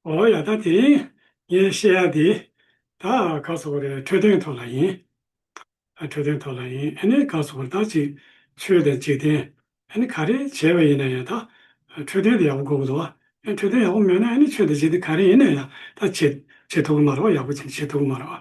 ཨོ་ཡ་ད་དེ་ངས་བཤད་ཡ་དེ་ད་ག་ཚོད་པོ་རེད་འཕྲོད་བསྟེན་ཐོག་ལ་ཡིན། འཕྲོད་བསྟེན་ཐོག་ལ་ཡིན་ཨེ་ནས་ག་ཚོད་པོར་ད་ཅིག་ཆོས་དང་འཇིག་རྟེན་ཨེ་ནས་ག་རེ་བྱས་པ་ཡིན་ན་ཡང་ད་འཕྲོད་བསྟེན་དེ་ཡག་པོ་དགོས་གི་འདུག་ཨེ་འཕྲོད་བསྟེན་ཡག་པོ་མེད་ན་ཨེ་ནས་ཆོས་དང་འཇིག་རྟེན་ག་རེ་ཡིན་ན་ཡང་ད་བྱེད་བྱེད་ཐུབ་གི་མ་རེད་བ་ཡག་པོ་ཅིག་བྱེད་ཐུབ་གི་མ་རེད་བ།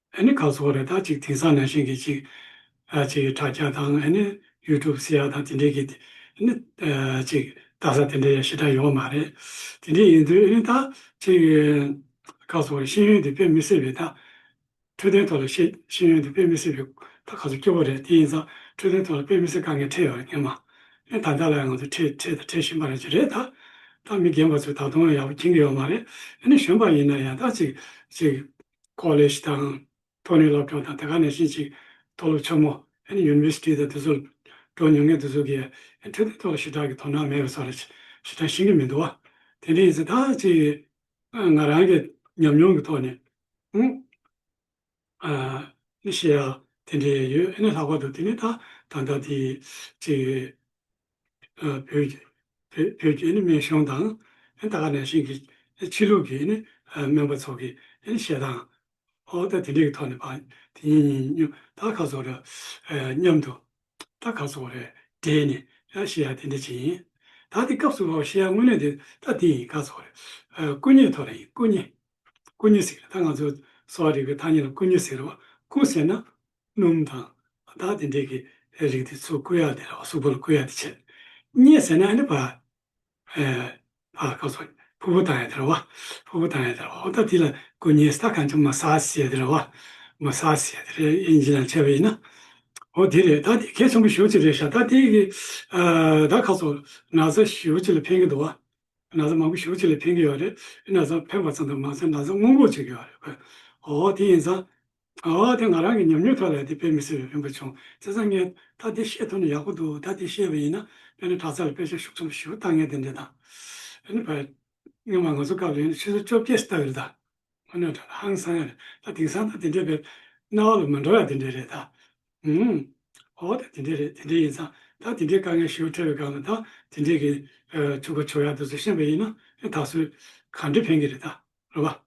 ཨ་ནི་ཁ་སོགས་རེ་ད་ཅིག་དེང་སང་ན་ཤིང་གི་ཅིག་ཨ་ཅིག་ཁྲ་སྐྱ་དང་ཨ་ནི་ཡུལ་གྲུབ་སི་ཡ་དང་དེ་འདྲའི་གི་ཨ་ནི་ཅིག་ད་ས་དེ་འདྲའི་ཡ་ཤི་ད་ཡོང་བ་མ་རེད་དེ་འདྲའི་ཡིན་དུས་ཨ་ནི་ད་ཅིག་ཁ་སོགས་ཤེས་ཡོན་དེ་དཔེ་མི་སྲིད་པའི་ད་འཕྲོད་བསྟེན་ཐོག་ལ་ཤེས་ཤེས་ཡོན་དེ་དཔེ་མི་སྲིད་པའི་ད་ཁ་སོགས་སྐྱོ་བོ་རེད་དེ་ཡིན་ཙང་འཕྲོད་བསྟེན་ཐོག་ལ་དཔེ་མི་སྲིད་དཀའ་ངལ་འཕྲད་ཡོད་རེད་སྙམ་མ་ཨ་ད་ལྟ་ལ་ཡང་ང་ཚོ་འཕྲད་འཕྲད་དང་འཕྲད་བཞིན་པ་རེད་ཅི་རེད་ད་ད་མི་རྒན་པ་ཚོས་ད་དུང་ཡང་ཡག་པོ་མཁྱེན་གི་ཡོད་མ་རེད་ཨ་ནི་གཞོན་པ་ཡིན་ན་ཡང་ད་ཅིག་ཅིག College དང། མཐོ་རིམ་སློབ་གྲྭ་དང་དེ་ག་ནས་ཤིན་ཅིག་མཐོ་སློབ་ཆུང་མོ། University། དང་དུས་ཚོད་སྤྲོ་ཉུང་ངེས་དུ་ཟུག་གི། འཕྲོད་བསྟེན་ཐོག་ལ་ཞི་དྲག་གི་དོ་སྣང་མེད་པའི་ས་རུ་ཞི་དྲག་ཤིན་གྱི་མི་འདུག། དེ་འདྲའི་ཡིན་ཚེ་ད་ཅི། ང་རང་གི་ཉམས་མྱོང་གི་ཐོག་ནས། ནི་ཤེས་ཡག་དེ་འདྲའི་ཡོད་ཨེ་ན་ལྷག་པར་དུ་དེ་ནི་ད་ད་ལྟ་དེ། ཅིག། བོད་ཀྱི་སྨན་གཞུང་དང་ད་ག་ནས་ཞིག་གི་ཕྱི་ལུགས་ཀྱི་སྨན་པ་ཚོ་གི་བཤད་སྟངས་འོག་ད་དེ་འདྲའི་ཐོག་ནས་པར་དེ་ཉིན་ཉིན་སྙུག་ད་ག་ཚོ་ར་མཉམ་དུ་ད་ག་ཚོ་རེ་སྦྲེལ་ནས་བཤད་ཡ་དེ་འདྲ་ཅིག་ཡིན། ད་དེ་སྐབས་སུ་བཤད་ཡ་དངོས་གནས་དེ་ད་དེ་ཡིན་ག་ཚོ་རེ་སྐུ་མཉེ་ཐོག་རེ་ཡིན་སྐུ་མཉེ་སྐུ་མཉེ་ཟེར་གི་རེད་ད་ང་ཚོ་གསོ་བ་རིག་པའི་ཐ་སྙད་ལ་སྐུ་མཉེ་ཟེར་རོ་སྐུ་ཟེར་ན་སྣུམ་དང། བདག་དེ་འདྲས་ཀྱི་རིགས་དེ་ཚོ་བསྐུ་ཡག་དེ་ལ་བསུ་བོ་ལ་བསྐུ་ཡག་དེ་བྱེད། རྙེད་ཟེར་ན་ཨ་ནི་བ། ཧེ། བ་ལ་བསྐུ་སོང། ཕུ་བོ་བཏང་ཡག་དེ་ལ་བ། ཕུ་བོ་བཏང་ཡག་དེ་ལ་བ་འོ་ད་དེ་ལ་བསྐུ་ཉེས་སྟ་གང་བྱུང་མ་ས་ཨ་སི་ཡག་དེ་ལ་བ། མ་ས་ཨ་སི་ཡག་དེ་རེད་ཨེ་ཡིན་ཅི་ལ་འཆལ་བ་ཡིན་ན། འོ་དེ་རེད་ད་དེ་གལ་ཆེན་པོ་ཞུ་ཅི་རེད་ཤ་ད་དེ་གི། བདག་ཁ་སོ་ན་བཟའ་ཞུ་ཅི་ལ་ཕན་གི་འདུག་བ། ན་བཟའ་མང་པོ་ཞུ་ཅི་ལ་ཕན་གི་ཡོད་རེད་ཨེ་ན་བཟའ་ཕན་པ་ཙམ་དུ་མ་ཟད་ན་བཟའ་དངུལ་འབོར་ཅིག་ཡོད་རེད་བ། འོ་དེ་ཡིན་ཙང། ཨ་ཨ་དེ་ང་རང་གི་ཉམས་མྱོང་ཐོག་ལས་དེ་དཔེ་མི་སྲིད་རེད་རིན་པོ་ཆུང་ཙེ་ཟ་ངས་ད་དེ་བཤད་ཐུབ་ན་ཡག་པོ་འདུག་ད་དེ་བཤད་པ་ཡིན་ན་དཔེ་ན་གྲྭ་ཚ་ལ་དཔེ་ཆ་ཤུགས་ཙམ་ཞུ་ལྟ་ངས་དེ་འདྲས་དང་ཨེ་ནི་བར་སྔོན་མ་ང་ཚོ་སྐབས་རེད་ནི་ཕྱི་ཟུར་བཅོ་བརྒྱད་སི་ཏག་རེད་ད་ངོ་ནས་དྲ་ལ་ཧང་སང་ཡ་རེད་ད་དེང་སང་ད་དེ་འདྲས་བེད་རྣ་བ་ལ་མི་འགྲོ་ཡ་དེ་འདྲས་རེད་ད་ཧུམ་ཨོ་ད་དེ་འདྲས་རེད་དེ་འདྲས་ཡིན་ཙང་ད་དེ་འདྲས་དཀའ་ངལ་ཞུ་ཕྲད་པའི་སྒང་ལ་ད་དེ་འདྲས་གི་ཆུ་ཁ་བྱོ་ཡ་འདུག་ཟེར་ཤེས་པ་ཡིན་ན་ཨེ་ད་གཟོད་ག་འདྲས་ཕན་གི་རེད་ད་རོ་བ།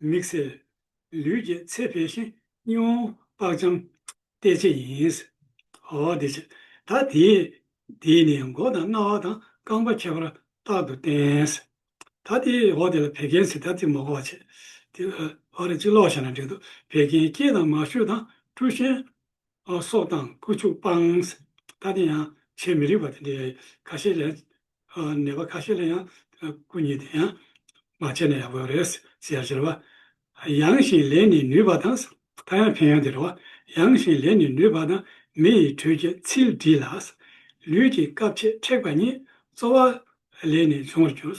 མིག་སེར། ལུས་ཀྱི་ཚད་འཕེལ་ཞིང་སྙིང་བོ་པགས་འཇམ། བལྟས་བྱེད་ཡིན། ཧོ། བལྟས་བྱེད་ད་དེས། དེས་ནི་མགོ་དང་རྣ་བ་དང་རྐང་པ་ཁྱད་པར་རྟག་ཏུ་བསྟན། ད་དེས་ཧོ་དེ་ལ་བད་ཀན་སི་ད་ཏི་མོ་གོ་བ་བྱེད། དེ། ཧོ་རེ་གཅིག་ལོག་བྱས་ན་འགྲིག་འདུག་བད་ཀན་སྐྱེས་དང་མ་ཤོས་དང་བཀྲུ་ཤན། སོགས་དང་བསྐུལ་ཆུག་སྤངས། ད་དེ་ཡང་བྱེད་མི་རིགས་པ་དེ་འདྲའི་ཁ་ཤས་ལས། ནད་པ་ཁ་ཤས་ལ་ཡང་བསྐུལ་ཉེས་དེ་ཡང། མ་བྱས་ན་ཡག་པོ་རེད་ཟེར་ཡ་ཟེར་བ། ཡང་བཞིན་ལས་ནི་ནུས་པ་དང། ད་ཡང་ཕན་ཡང་དེ་འདྲ་བ། ཡང་བཞིན་ལས་ནི་ནུས་པ་དང། མི་ཡི་དྲོད་ཀྱི་ཚིལ་བྲིས་ལ། ལུས་ཀྱི་སྐབས་ཕྱེད་མཁྲེགས་པ་ཉིད། རྩོལ་བ་ལས་ནི་འབྱུང་བར་འགྱུར།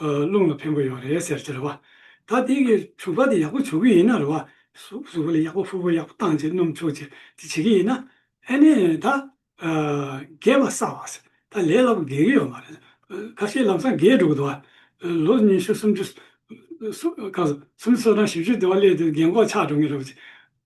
རླུང་ལ་ཕན་པོ་ཡོད་རེད་ཟེར་གྱི་རེད་བ། ད་དེ་གི་བྱུག་པ་དེ་ཡག་པོ་བྱུག་གི་ཡིན་ན་རེད་བ། བྱུག་པ་ལ་ཡག་པོ་ཕུར་བུ་ཡག་པོ་བཏང་རྗེས་སྣུམ་བྱུག་རྗེས་དེ་བྱེད་ཀྱི་ཡིན་ན། ཨེ་ནས་ད། རྒས་པ་སྲ་བ། ད་ལས་སླ་པོ་རྒས་ཀྱི་ཡོད་མ་རེད། ཁ་ཤས་ལམ་སང་རྒས་འགྲོ་གི་འདུག་བ། ལོ་ཉི་ཤུ་སུམ་ཅུ། སུམ་ཅུ་སོ་གྲངས་བཞི་བཅུ་དེ་བ་སླེབས་དུས་རྒས་འགོག་ཆགས་འགྲོ་ངེས་རེད་བ།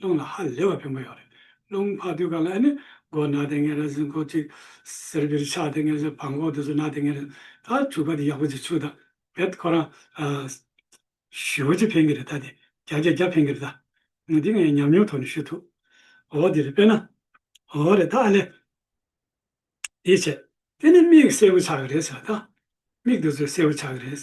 རླུང་ལ་ཧ་ལས་པ་ཕན་པོ་ཡོད་རེད། རླུང་འཕགས་དུས་གང་ལ་ཨ་ནི་སྒོ་ནག་དེ་ངན་རེད་ཟེར་མགོ་གཅིག་ཟེར་བིར་ཆགས་དེ་ངན་ཟེར་བག་འགོག་དེ་ཚོ་ནག་དེ་ངན་རེད། ད་ཆུ་ཁ་དེ་ཡག་པོ་ཟེར་ཆུ་དང་བེད་ཁོ་རང་བཞི་བོ་གཅིག་ཕན་གི་རེད་ད་དེ་བརྒྱ་བརྒྱ་བརྒྱ་ཕན་གི་རེད་ད། འདི་ངས་ཉམས་མྱོང་ཐོག་ནས་ཞུ་ཐུབ། འོ་དེ་རེད་དཔེར་ན། འོ་རེད་ད་ཨ་ལས། དེའི་ཕྱིར། དེ་ནི་མིག་གསལ་བོ་ཆགས་གི་རེད་ཟེར་བ་ད། མིག་དེ་ཚོ་གསལ་བོ་ཆགས་གི་རེད།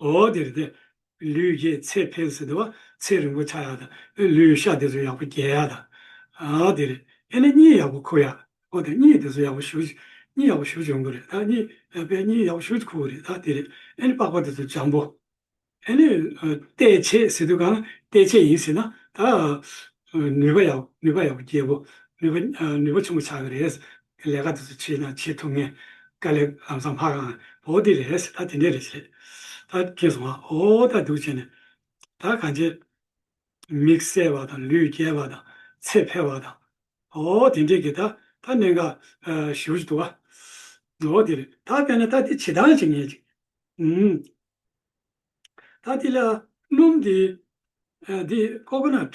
ཨོ་དེར་ཏེ། ལུས་རྒྱས་ཚད་འཕེལ་སོ་དེ་བ་ཚད་རིང་པོ་ཆགས་ཡག་དང། ལུས་ཤ་དེ་ཚོ་ཡག་པོ་རྒྱས་ཡག་དང། ཨོ་དེ་རེད། ཨེ་ནས་གཉིད་ཡག་པོ་ཁུག་ཡག། ཨོ་དེ་གཉིད་དེ་ཚོ་ཡག་པོ་ཞུགས། གཉིད་ཡག་པོ་ཞུགས་བྱུང་གི་རེད་ད། གཉིད་པས་གཉིད་ཡག་པོ་ཞུགས་ཁུག་གི་རེད་ད་དེ་རེད། ཨེ་ནས་པགས་པ་དེ་ཚོ་འཇམ་པོ། ཨེ་ནས། བལྟས་བྱས་ཟེར་དུས་གང་ན་བལྟས་བྱས་ཡིན་ཟེར་ན་ད། ནུས་པ་ཡག་པོ་རྒྱས་པོ། ནུས་པ་ཆེན་པོ་ཆགས་ཀྱི་རེད། ལས་ཀ་དེ་ཚོ་བྱས་ན་བྱེད་ཐུབ་ངེས། དཀའ་ལས་ལམ་སང་ཕར་ཨང། བོ་དེ་རེད་ཟེར་ད་དེ་འདྲས་རེད་ཟེར། ད་ཁྱེད་སོང་ཨ་ཨོ་ད་སྡུག་བྱས་ནས། ད་གང་བྱས། མིག་གསལ་བ་དང་ལུས་རྒྱས་པ་དང་ཚེ་འཕེལ་བ་དང། ཨོ་དེ་འདྲས་ཀྱི་ད་ད་གནད་འགག་ཞིག་འོ་ཅི་འདུག་ཨ། ཨོ་དེ་རེད་ད་དཔེར་ན་ད་དེ་བྱེད་སྟངས་ཅིག་ངེས་ཅིག། ཨུམ། ད་དེ་ལ་སྣུམ་དེ། དེ Coconut།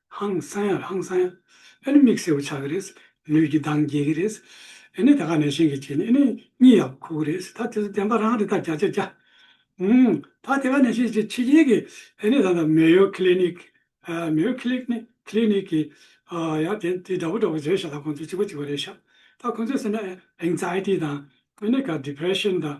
ཧང་སང་ཡ་ཧང་སང་ཡ། ཨེ་ནི་མིག་སེར་བོ་ཆགས་ཀྱི་རེད། ལུས་ཀྱི་མདངས་རྒྱས་ཀྱི་རེད། ཨེ་ནི་དེ་ག་ནས་ཤིང་གིས་བྱས་ནས་ཨེ་ནི་གཉིད་ཡག་པོ་ཁུག་གི་རེད། ད་དེ་ཚོ་བདེན་པ་རང་རེད་ད་བརྒྱ་ཆ་བརྒྱ། ཧུང། ད་དེ་ག་ནས་ཤིང་གིས་ཕྱི་རྒྱལ་གྱི་ཨེ་ནི་ད་ད་མེ་ཡོ་ཁི་ལེ་ནིག། མེ་ཡོ་ཁི་ལེ་ནིག་ཁི་ལེ་ནིག་གི། ཡ་དེ་དེ་འདྲ་པོ་འདྲ་པོ་བཟོས་ཤག་ད་ཁོང་ཚོ་གཅིག་པ་གཅིག་པ་རེད་ཤག། ད་ཁོང་ཚོས་ཟེར་ན Anxiety དང་ཨེ་ནི་ག Depression དང་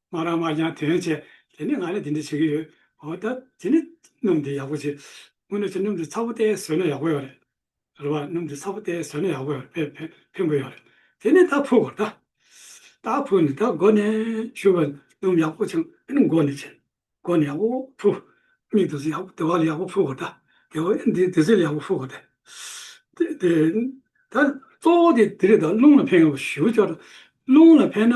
སྨ་ར་སྨར་ཀྱང་དེ་ཡང་བྱས། དེ་ནས་ང་ལ་དེ་འདྲ་བྱེད་ཀྱི་ཡོད། འོ་ད་དེ་ནི་སྣུམ་དེ་ཡག་པོ་བྱེད། སྔོན་ནས་བྱས་སྣུམ་དེ་ཚ་པོ་སྟེ་ཟོས་ན་ཡག་པོ་ཡོད་རེད། རེད་བ། སྣུམ་དེ་ཚ་པོ་སྟེ་ཟོས་ན་ཡག་པོ་ཡོད་རེད་བེད་ཕན་དགོས་ཡོད་རེད། དེ་ནས་ད་ཕུག་གོ་ད། ད་ཕུག་ནས་ད་མགོ་ནས་བཤུ་བ། སྣུམ་ཡག་པོ་བྱུང་ཨེ་ནི་མགོ་ནས་བྱས། མགོ་ནས་ཡག་པོ་ཕུག། མིག་དེ་ཚོ་ཡག་པོ་དེ་བ་ལ་ཡག་པོ་ཕུག་གོ་ད། དེ་བ་ཨེ་འདི་དེ་ཚོ་ལ་ཡག་པོ་ཕུག་གོ་ད། དེ་དེ། ད་གཙོ་བོ་དེ་དེ་རེད་ད་རླུང་ལ་ཕན་ཡོང་བ་ཞུ་བ་ཅོག་རེད། རླུང་ལ་ཕན་ན་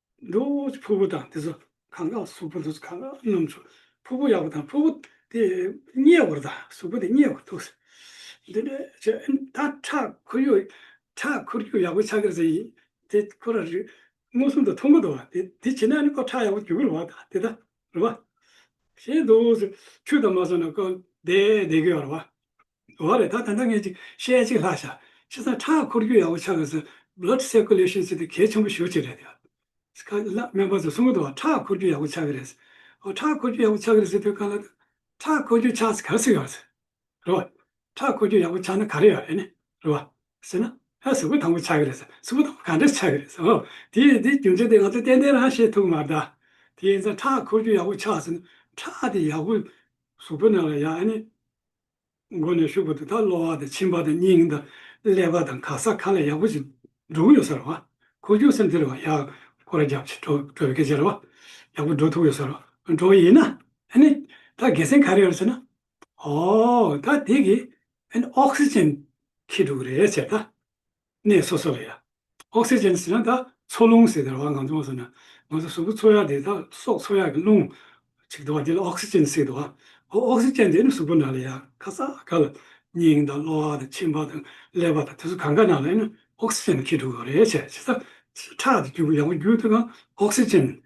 འབྲུག་གི་ཕུར་བུ་དང་དེ་ཚོ་གང་ག་ལ་གཟུགས་པོ་འདུག་གང་ག་ལ་སྣུམ་འདུག་ཕུར་བུ་ཡག་པོ་དང་ཕུར་བུ་དེ་མཉེས་བར་དང་གཟུགས་པོ་དེ་མཉེས་བར་འདུག་འདི་ནས་ཇི་ད་ཁྲག་ཁུར་ཡོད་ཁྲག་ཁུར་རྒྱུ་ཡག་པོ་ཆགས་ཀྱི་རེད་དེ་ཁོ་ར་རིགས་མངོན་སུམ་དུ་མཐོང་གི་འདུག་དེ་དེ་བྱས་ན་ནི་ཁོ་ཁྲག་ཡག་པོ་རྒྱུ་གི་རེད་བ་དང་དེ་ད་རེད་བ། ཞེས་འདུག་ཆོས་དང་མ་སོང་ན་ཁོ་བསྡད་བསྡད་གི་ཡོད་རེད་བ། འོ་རེད་ད་ད་ལྟ་ངས་ཅིག་བཤད་ཅིག་ལྷ་བཞག་ཕྱི་ས་ཁྲག་འཁོར་རྒྱུ་ཡག་པོ་ཆགས་དགོས་ཚུལ Blood Circulation ཚུལ་དེ་གལ་ཆེན་པོ་ཞུ་ཅིག་རེད་ཡ། ཁ་ལ་སྨན་པ་ཚོ་གསུང་གི་འདུག་བ་ཁྲག་འཁོར་རྒྱུ་ཡག་པོ་ཆགས་གི་རེད་ཟེར། འོ་ཁྲག་འཁོར་རྒྱུ་ཡག་པོ་ཆགས་གི་རེད་ཟེར་དུས་ག་ལ་ད། ཁྲག་འཁོར་རྒྱུ་ཆགས་ཚེ་ག་ཚོད་ཡོད་ཟེར། རེད་བ། ཁྲག་འཁོར་རྒྱུ་ཡག་པོ་ཆགས་ན་ག་རེ་ཡོད་རེད་ནི། རེད་བ། ཟེར་ན། ཧ་གཟུགས་པོ་དང་པོ་ཆགས་གི་རེད་ཟེར་གཟུགས་པོ་དང་པོ་ག་འདྲ་ཆགས་གི་རེད་ཟེར་འོ། དེ་དེ་རྒྱུ་མཚན་དེ་ང་ཚོ་ཏན་ཏན་རང་ཤེས་ཐུབ་མ་གདའ། དེ་ཡིན་ཙང་ཁྲག་འཁོར་རྒྱུ་ཡག་པོ་ཆགས་ཟེར་ན་ཁྲག་དེ་ཡག་པོ་གཟུགས་པོ་ནང་ལ་ཡ་ཨ་ནི། མགོ་ནས་ཤུགས་པ་དུ་དག་གློ་བ་དང་མཆིན་པ་དང་སྙིང་དང་ཀླད་པ་དང་ག་ས་ག་ལ་ཡག་པོ་ཅིག་འགྲོ་གི་ཡོད་ས་རེད་བ། ཁོ་ཅུང་སེམས་ཚེར་བ་ཡག་ཁོ་ར་རྒྱབ་ཆེ་འགྲོ་འགྲོ་བའི་སྐད་ཆ་རེད་བ། ཡག་པོ་འགྲོ་ཐུབ་ཡོད་ས་རེད་བ། འགྲོ་ཡིན་ན་ཨ་ནི་ད་དགེ་སེང་ག་རེད་རེད་ཟེར་ན། ཨོའོ་ད་དེ་གི་ཨ་ནི Oxygen ཁྱི་འགྲོ་གི་རེད་ཟེར་ད། གནས་སོ་སོ་ལ་ཡང། ཨོག་སི་ཅན་ཟེར་ན་དག་འཚོ་རླུང་ཟེར་དར་བ་འང་ཚོ་ཟེར་ན། ང་ཚོ་གཟུགས་པོ་འཚོ་ཡ་དེ་དག་སྲོག་འཚོ་ཡ་གི་རླུང། ཅིག་དར་བ་དེ་ལ་ཨོག་སི་ཅན་ཟེར་དར་བ། ཨོག་སི་ཅན་དེ་ནི་གཟུགས་པོ་ནང་ལ་ཡང་ཁ་ས་ག་ལ། སྙིང་དང་གློ་བ་དང་མཆིན་པ་དང་ཀླད་པ་དང་དེ་ཚོ་གང་ག་ནང་ལ་ཡང་ན་ཨོག་སི་ཅན་ཁེལ་འགྲོ་གི་རེད་བྱས་ཚེ། ཁྲག་དེ་རྒྱུ་བུ་ཡང་བུ་རྒྱུ་དེ་གང་ཨོག་སི་ཅན།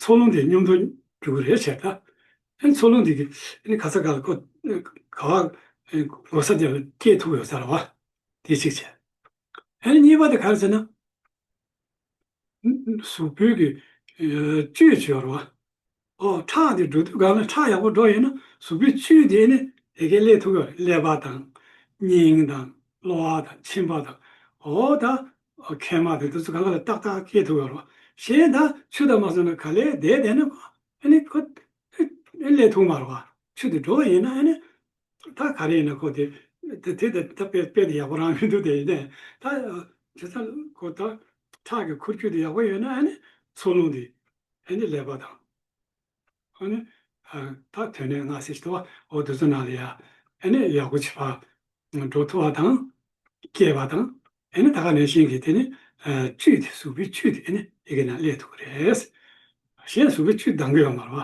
འཚོ་རླུང་དེ་སྙོམས་འདོར་རྒྱུ་གི་རེད་བྱས་ད། ཨེ་འཚོ་རླུང་དེ་གི་ཨེ་ནི་ཁ་ས་ག་ལ་ཀོ། ག་བ། གོ་ས་དེ་ལ་སྐྱེས་ཐུབ་ཡོད་ས་ར་བ། དེ་གཅིག་བྱས། ཨ་རི་གཉིས་པ་དེ་ག་རེ་བྱས་ན། སུ་བོད་ཀྱི་བཅུད་བྱེད་རོགས། ཨོ་ཁྲག་དེ་འགྲོ་དུས་ག་ལ་ཁྲག་ཡག་པོ་འགྲོ་ཡོད་ན་སུ་བོད་བཅུད་དེ་ནི་དེ་གའི་ལས་ཐུག་ཡོད་རེད་ཀླད་པ་དང། སྙིང་དང། གློ་བ་དང་མཆིན་པ་དང། ཨོ་ད། མཁལ་མ་དེ་དུས་ཚོད་ག་ལ་ལ་ཏག་ཏག་སྐྱེ་ཐུག་ཡོད་རོགས། གཞན་ད་ཆུ་དང་མ་སོང་ན་ག་ལས་དེ་བསྡད་ན། ཨ་ནི། ལས་ཐུག་མ་རོགས། ཆུ་དེ་འགྲོ་ཡོད་ན་ཨ་ནི། ད་ག་རེ་ཡིན་ན་ཁོ་དེ་དེ་དེ་ད་དཔེ་དཔེ་དེ་ཡག་པོ་རང་མི་འདུག་དེ་ཡིན་ན་ད་དེ་ད་ཁོ་ད་ཁྲག་གི་ཁུར་ཁྱུ་དེ་ཡག་པོ་ཡོད་ན་ཨ་ནི་འཚོ་རླུང་དེ་ཨ་ནི་ཀླད་པ་དང་ཨ་ནི་ད་དོན་ནི་ང་སེ་ཞི་ཏོ་བ་འོ་དུ་ཚོ་ནང་ལ་ཡ་ཨ་ནི་ཡག་པོ་བྱེད་པ་འགྲོ་ཐུ་བ་དང་སྐྱེས་པ་དང་ཨ་ནི་ད་ག་ནས་ཤིང་གི་དེ་ནི་བཅུད་དེ་གཟུགས་པོའི་བཅུད་དེ་ཨ་ནི་ཡི་གེ་ནང་ཀླད་དུ་རེད། གཞན་གཟུགས་པོའི་བཅུད་འདང་གི་ཡོད་མ་རེད་བ།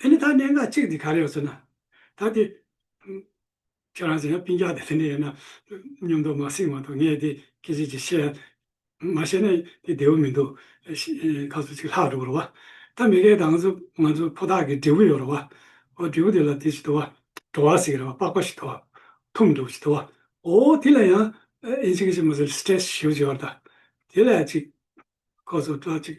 དེ་ནི་ད་གནད་འགག་གཅིག་འདི་ག་རེད་ཟེར་ན། ད་དེ། ཁྱོད་རང་ཟེར་ན་སྤིན་རྒྱག་དེ་ལེན་དེ་ཡོད་ན། སྙོམས་འདོགས་མ་བསྲིངས་བར་དུ་ངས་དེ་སྐད་ཅིག་ཅིག་བཤད། མ་བཤད་ན་དེ་བདེ་བོ་མི་འདུག། ཁ་ཟུར་ཅིག་ལྷག་འགྲོ་གི་རེད་བ། ད་མི་ཁའི་དང་ཟུག་ང་ཚོ་ཕོ་ཐག་གི་འབྲས་བུ་ཡོད་རེད་བ། འོ་འབྲས་བུ་དེ་ལ་དེ་ཅི་དུ་བ། བྲོ་བ་ཟེགས་རེད་བ་པགས་པ་ཞིག་དུ་བ། ཐུམ་འདུག་ཅི་དུ་བ། འོ་དེ་ལ་ཡང། ཨེ་ཅི་གི་ཅི་མ་ཟེར stress ཞེས་བརྗོད་བར་ད། དེ་ལ་ཅིག། ཁོ་ཚོ་ཏྲག་ཅིག།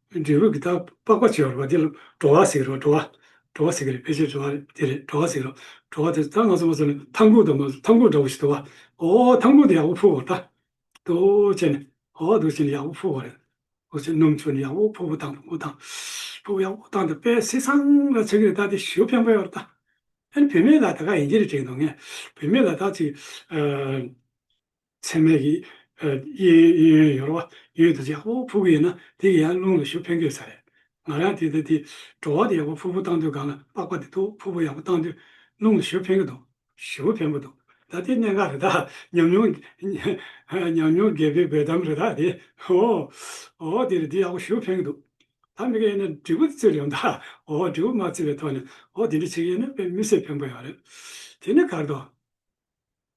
འབྲས་བུ་གི་དག་པ་པགས་པ་བྱེ་བ་རོ། འདི་ལ་བྲོ་བ་ཟེར་རོ། བྲོ་བ། བྲོ་བ་ཟེར་གི་རེད། ཕལ་ཆེར་བྲོ་བ་དེ་རེད། བྲོ་བ་ཟེར་རོ། བྲོ་བ་དེ་ད་ང་ཚོ་མ་ཚོ་ནི་ཐང་གུག་དང་མ་ཚོ་ཐང་གུག་འདྲ་བོ་ཞིག་དུ་བ། ཨོ་ཨོ་ཐང་གུག་དེ་ཡག་པོ་ཕུག་བོ་ད། དུ་བྱས་ནས། ཨོ་དུ་བྱས་ནས་ཡག་པོ་ཕུག་བོ་རེད། ཨོ་བྱས་སྣུམ་བྱོས་ནས་ཡག་པོ་ཕུག་བོ་དང་ཕུག་བོ་དང། ཕུག་བོ་ཡག་པོ་དང་དེ་པས་སེ་སང་ལ་ཆགས་གི་རེད་ད་དེ་ཞོ་ཕན་པོ་ཡོད་རེད་ད། ཨ་ནི་བུད་མེད་ལ་ད་ག་ཡིན་གྱི་རེད་དྲན་འདུག་ངས་བུད་མེད་ལ་ད་ཅིག། ཚེར་མའི་གིས། གཡས་གཡོན་གཡོན་གཡོན་ཡོ་རོ་བ་གཡོན་དུ་བྱས། ཧོ་ཕུ་གུ་ཡིན་ན་དེ་གི་ཡང་རླུང་ལ་ཞུ་ཕན་གོས་ཚར་རེད། ང་རང་དེ་ལྟ་དེ། བྲོ་བ་དེ་ཡག་པོ་ཕུ་ཕུ་བཏང་དུས་སྒང་ལ་པགས་པ་དེ་ཐུག་ཕུ་ཕུ་ཡག་པོ་བཏང་དུས་རླུང་ལ་ཞུ་ཕན་གི་འདུག། ཞུ་ཕན་པོ་འདུག་ད་དེ་གནད་འགག་རེད་ད། ཉམས་མྱོང། ཉམས་མྱོང་རྒས་པའི་འབེལ་གཏམ་རེད་ད་དེ། ཧོ། ཨོ་དེ་རེད་དེ་ཡག་པོ་ཞུ་ཕན་གི་འདུག། ད་མི་ག་ཡིན་ན་དྲིལ་བུ་དེ་བཙིར་ཡོང་ད། ཨོ་དྲིལ་བུ་མ་བཙིར་བའི་ཐོག་ནས་ཨོ་དེ་འདྲ་བྱེད་གི་ཡིན་ན་དཔེ་མི་སེར་ཕན་པོ་ཡོང་རེད། དེ་ནི་གར་དོ།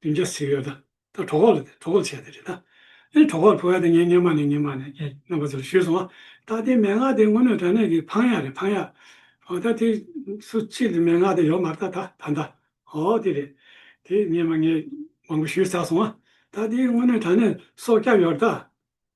བདུན་བརྒྱ་ཟིག་ཡོད། ད་གྲོགས་ཁོག་ལ་དེ་གྲོགས་ཁོག་ལ་བྱས་ཏེ་རེད་ད། ཨེ་གྲོགས་ཁོག་ལ་ཕུལ་བ་དེ་ངས་སྙེ་མ་ནས་སྙེ་མ་ནས་ངས་རྣམ་པ་ཚོ་ལ་ཞུས་སོང་ཨ། ད་དེ་མན་ངག་དེ་དངོས་གནས་དྲ་གནས་ཀྱི་འཕང་ཡག་རེད་འཕང་ཡག། ཨོ་ད་དེ་སུ་ཆེད་དུ་མན་ངག་དེ་ཡོག་མ་རྟ་ད་ད་ད། ཨོ་དེ་རེད། དེ་སྙེ་མ་ངས་མང་པོ་ཞུས་ཚར་སོང་ཨ། ད་དེ་དངོས་གནས་དྲ་གནས་སོགས་སྐྱབས་ཡོག་རེད་ད།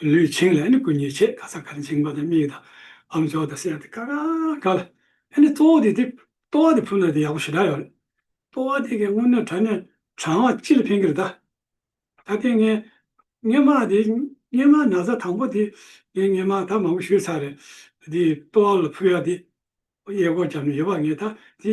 ལུས་བྱིངས་ལ་ནི་སྐུ་ཉིད་ཆེས་ཁ་ཚ་གར་འཇིགས་མ་དང་མིག་དང་ལམ་ཕྱོགས་དང་སེར་དང་ཀ་ཀ་ཀ་ལ། ཨེ་ནི་ལྟོ་བ་དེ་དེ་ལྟོ་བ་དེ་ཕུལ་ན་དེ་ཡག་པོ་ཞེ་དྲག་ཡོད་རེད། ལྟོ་བ་དེ་གའི་སྔུན་ནོར་དྲ་ནས་གྲང་བ་ཅི་ལ་ཕན་གི་རེད་ད། ད་ལྟའི་ངའི་སྔས་མག་དེ་སྔས་མག་ན་བཟའ་དང་པོ་དེ་ངའི་སྔས་མག་ད་མང་པོ་ཞུས་ཚར་རེད་དེ་ལྟོ་བ་ལ་ཕུལ་ཡག་དེ། གཡས་སྐོར་བརྒྱབ་ནས་ཡོད་པ་ངས་ད་དེ་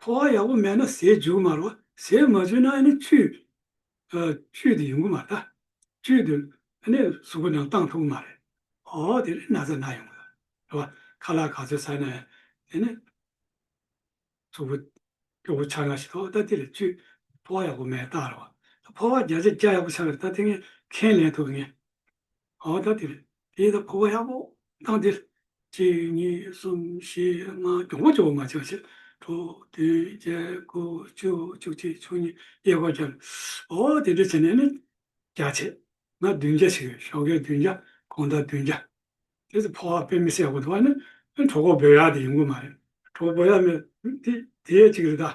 ཕོ་བ་ཡག་པོ་མེད་ན་ཟས་འཇུག་མ་རོགས་ཟས་མ་འཇུ་ན་ནི་བཅུད། བཅུད་དེ་ཡོང་གི་མ་རེད། བཅུད་དེ་ནི་གཟུགས་པོ་ནང་གཏང་ཐུབ་གི་མ་རེད། ཨོ་དེ་ནི་ན་ཚ་ན་ཡོང་གི་རེད། ཁ་ལག་ག་ཚོད་ཟ་ན་ཡང་དེ་ནི་གཟུགས་པོ་སྐྱོ་པོ་ཆགས་ན་ཞིག་ཐོག་ད་དེ་ལ་བཅུད་ཕོ་བ་ཡག་པོ་མེད་རྟགས་རེད་བ། ཕོ་བ་བརྒྱ་ཆ་བརྒྱ་ཡག་པོ་ཆགས་ཀྱི་རེད་ད་དེ་ངས་ཁས་ལེན་ཐུབ་ངེས། ཨ་བ་ད་དེ་རེད། དེའི་ད་ཕོ་བ་ཡག་པོ་གདངས་དེ་རེད། གཅིག་གཉིས་གསུམ་བཞི་ལྔ་གྱོང་པོ་ཆུ་བོ་ལྔ་ཆིག་ཕྱེད་དྲུག་བདུན་བརྒྱད་དགུ་བཅུ་བཅུ་གཅིག་བཅུ་གཉིས་གཡས་སྐོར་བརྒྱ། ཨོ་དེ་འདྲ་བྱས་ནས་ནི་བརྒྱ་བྱས་ན་བདུན་བརྒྱ་ཞིག་རེད་ཞོགས་ཀའི་བདུན་བརྒྱ་གོང་ད་བདུན་བརྒྱ། དེ་ཚོ་ཕོ་བ་དཔེ་མི་སྲེག་པ་དུ་བ་ནི་གྲོགས་པོ་བོད་ཡག་དེ་ཡིན་གོ་མ་རེད། གྲོགས་པོ་བོད་ཡག་མེད་དེ་དེ་ཡས་གཅིག་རེད་ད།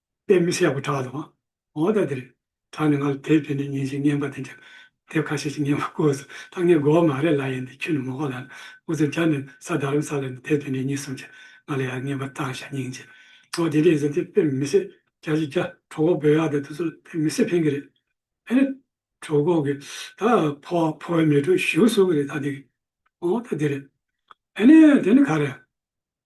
དཔེ་མི་ཤེས་པར་གྲགས་སོང། འོ་ད་དེར་གྲགས་ནས་ང་ལ་དེབ་དེ་ནས་ཉིན་ཞིག་བརྙན་པ་དེ་འདྲ་དེབ་ཁ་ཤས་ཤིག་བརྙན་པར་བསྐུར་སོང་ད་ངས་དགོ་བ་མ་རེད་ལ་ཡིན་ཏེ་ཁྱོད་ནི་མོ་ཁོ་ལ་ནི་འུ་ཚོ་རྒྱ་ནི་ས་དར་རམ་ས་ལ་ནི་དེབ་དེ་འདྲ་གཉིས་སོང་ཆ་ང་ལ་ཡར་བརྙན་པར་བཏང་ཞག་སྙིང་རྗེ། འོ་དེ་འདྲ་ཡིན་ཟེར་དེ་དཔེ་མི་ཤེས་རྒྱ་ཞིག་རྒྱ་གྲོག་གོག་བོད་ཡག་དེ་དེ་ཚོ་ལ་དཔེ་མི་ཤེས་ཕན་གི་རེད་ཕན་ནི། གྲོག་གོག་གི་ད་ཕོ་བ་ཕོ་བའི་མེ་དྲོད་ཞུགས་སོང་གི་རེད་ད་དེ་གི་འོ་ད་དེ་རེད་ཕན་ནི་དེ་ནི་ག་རེ།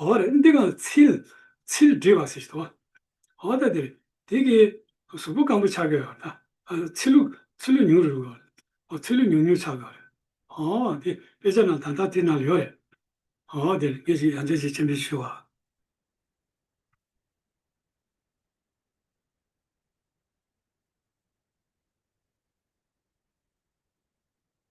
ཨོ་རེད་འདི་གང་ཚིལ། ཚིལ་བསྒྲིལ་བ་ཟེར་གྱི་འདུག་བ། ཨོ་ད་དེ་དེ་གི་གཟུགས་པོ་སྐམ་པོ་ཆགས་ཀྱི་ཡོད་རེད་ད། ཚིལ་ལུག་ཚིལ་ལུག་ཉུང་རེད་འདུག་བ། ཨོ་ཚིལ་ལུག་ཉུང་ཉུང་ཆགས་ཀྱི་ཡོད་རེད། ཨོ་དེ་དཔེ་ཆ་ནང་ད་ལྟ་དེ་ནང་ཡོད་རེད། ཨོ་དེ་ངས་ཞིག་ཡང་ཅིག་ཅིག་མཆན་འབེབས་ཞུ་བ།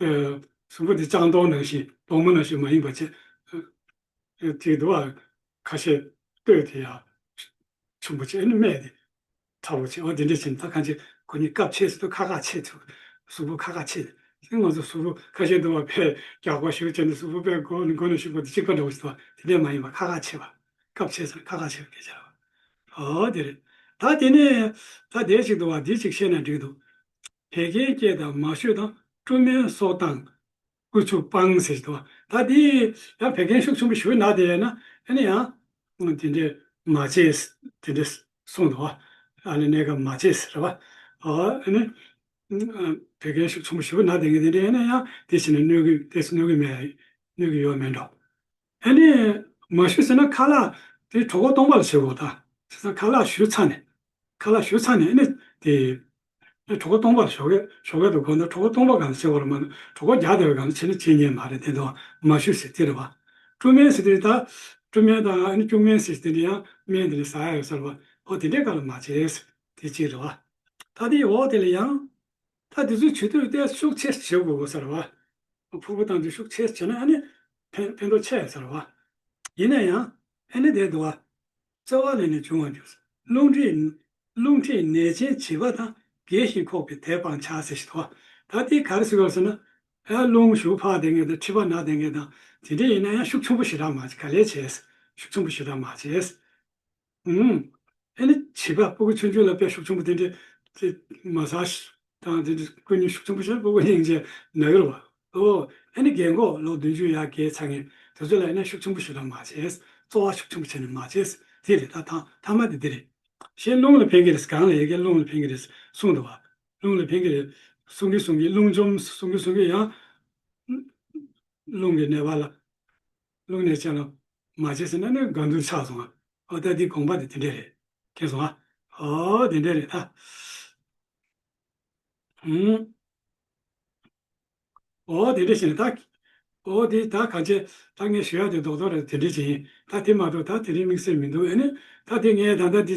གསུམ་པོ་དེ་ལྕང་སྡོང་ནང་བཞིན་སྡོང་མོ་ནང་བཞིན་མ་ཡིན་པ་ཆེ། དེའི་དུ་བ་ཁ་ཤས་བརྟོལ་དེ་ཡང་ཆུན་པོ་ཆེ་ཨེ་ནུ་སྨད་དེ་ཁྲ་བོ་ཆེ་འོ་དེ་འདྲས་བྱས་ནས་ད་གང་ཆེ་གོ་ནི་སྐབས་ཕྱེས་སུ་དུ་ཁ་ཁ་ཕྱེས་ཐུབ། གསུམ་པོ་ཁ་ཁ་ཕྱེས་ནས་དེ་ང་ཚོ་གསུམ་པོ་ཁ་ཤས་དུ་བ་ཕས་རྒྱག་པ་ཞུ་བྱས་ནས་གསུམ་པོ་པས་མགོ་ནས་མགོ་ནས་ཞུགས་པ་དེ་གཅིག་པ་འདྲ་བོ་ཞིག་དུ་བ་དེ་འདྲས་མ་ཡིན་པར་ཁ་ཁ་ཕྱེས་པ། སྐབས་ཕྱེས་སུ་ཁ་ཁ་ཕྱེས་པ་སྐད་ཆ་རེད། འོ་དེ་རེད། ད་དེ་ནས་ད་དེ་ཞིག་དུ་བ་དེ་ཞིག་བཤད་ན་འགྲིག་འདུག། བད་ཀན་སྐྱེད་དང་མ་ཞུ་དང་བཀྲུ་སྨན་སོགས་བཏང། བསྐུ་ཆུ་སྤང་ཟེར་དུ་བ་ད་དེ་ཡང་བད་ཀན་ཤུགས་ཆུང་པོ་ཞུ་ན་དེ་ཡང་ན་ཡང་དེ་འདྲའི་མ་བྱེད་དེ་འདྲའི་གསུངས་འདུག་བ་ཨ་ལས་གནས་སྐབས་མ་བྱེད་ཟེར་བ་ཨ་ནི་བད་ཀན་ཤུགས་ཆུང་པོ་ཞུ་ན་དེ་འདྲའི་ཡང་དེ་བྱས་ན་གནོད་གི་མེད་གནོད་གི་ཡོད་མེད་འགྲོ། དེ་ནས་མ་ཞུས་ཟེར་ན་ཁ་ལག་དེ་གྲོགས་པོ་སྟོང་པ་ལ་བྱེད་དགོས་ད། བྱས་ཙང་ཁ་ལག་ཞུས་ཚར་ནས། ཁ་ལག་ཞུས་ཚར་ནས་ནི་དེ། གྲོགས་པོ་སྟོང་པ་ལ་ཞོགས་ཀྱི་ཞོགས་ཀྱི་འདུག་གོ་ན་གྲོགས་པོ་སྟོང་པ་གང་ལ་བྱེད་དགོས་ལ་མ་གྲོགས་པོ་བརྒྱ་དེ་བས་གང་ལ་བྱེད་ནི་བྱེད་ཉན་མ་རེད་དེ་འདྲ་བ་མ་ཞུས་ཟེར་དེ་རེད་བ། བཀྲུ་སྨན་ཟེར་དེ་ད། བཀྲུ་སྨན་དང་ནི་སྐྱུག་སྨན་ཟེར་དེ་འདི་ཡང་སྨན་དེ་ནི་ཟ་ཡ་ཡོད་ས་རེད་བ། འོ་དེ་འདྲའི་ག་ལ་མ་བྱས། དེ་གཅིག་རེད་བ། ད་དེའི་འོག་དེ་ལ་ཡང། ད་དེ་ཚོའི་ཇུས་གཏོགས་ཏེ་ཤུགས་ཆེར་བྱེད་དགོས་པ་ཟེར་བ། ཕུར་བུ་བཏང་རྗེས་ཤུགས་ཆེར་བྱས་ན་ཨ་ནི་ཕན་ཕན་ཐོགས་ཆེ་ཟེར་བ། ཡིན་ན་ཡང་ཨེ་ནི་དེ་འདུག་ཨ། རྩ་བ་ལས་ནས་འབྱུང་བར་འགྱུར། རླུང་མཁྲིས། རླུང་མཁྲིས་ནད་ཅན་བྱིས་པ་དང་རྒས་ཤིང་ཁོག་པའི་དལ་སྤང་ཆགས་ཟེར་ཞིག་དོགས། ད་དེ་ག་རེ་ཟེར་བ་ཟེར་ན། ཨ་རླུང་ཞུགས་ཕག་དེ་འགས་དང་མཁྲིས་པ་ནག་དེ་འགས་དང་དེ་འདྲས་ཡིན་ན་ཡང་ཤུགས་ཆུང་པོ་ཞིག་རག་མ་བྱེད་ག་ལས་བྱས། ཤུགས་ཆུང་པོ་ཞིག་རག་མ་བྱས། ཨུའུ། ཨེ་ནི་བྱས་པ་སྤོ་གི་ཆོས་འབྱུང་ལ་དཔལ་ཤུགས་ཆེན་པོ་དེ་འདྲས་དེ། མ་གཟའ། དང་དེ་འདྲས་ཀུན་ཉོན་ཤུགས་ཆེན་པོ་ཤར་སྤོ་གི་སྙིང་རྗེ་ནག་ཡོར་བ། ཨོའོ། ཨེ་ནི་རྒས་འགོ་ལོ་བདུན་ཅུ་ཡ་གའི་ཚ་ངན་དེ་ཚོ་ལ་ཨེ་ནི་ཤུགས་ཆེན་པོ་ཞུ་དང་མ་བྱས། བཙོ་བ་ཤུགས་ཆེན་པོ་བྱས་ནས་མ་བྱས། དེ་རེད་ད་ཐང་ཐ་མ་དེ་འདི་རེད། ཞེས་རླུང་ལ་ཕན་གི་རེད་གང་ལ་ཡལ་གའི་རླུང་ལ་ཕན་གི་རེད་གསུངས་འདུག་བ། རླུང་ལ་ཕན་གི་རེད། གསུང་གི་གསུང་གི་རླུང་འཇོམས་གསུང་གི་གསུང་གི་ཡང། རླུང་གི་གནས་པ་ལ། བླུགས་ནས་བྱས་ལ། མ་བྱས་ཟེར་ན་ནི་དགའ་འདུན་ཆགས་སོང་ང། ཨོ་ད་དེའི་དགོངས་པ་དེ་དེ་འདྲས་རེད། ཁེངས་སོང་ང། ཨོ་དེ་འདྲས་རེད་ད། ཧུམ། ཨོ་དེ་འདྲས་ཤེས་ན་ད། ཨོ་དེ་ད་ག་ཇེ། ད་ངས་ཞུ་ཡག་དེ་རྡོག་རྡོག་རེད་དེ་འདྲས་བྱས་ཡིན། ད་དེ་མ་གཏོགས་ད་དེ་རིང་དམིགས་བསལ་མི་འདུག་ཨེ་ནི། ད་དེ་ངས་ད་ལྟ་འདི།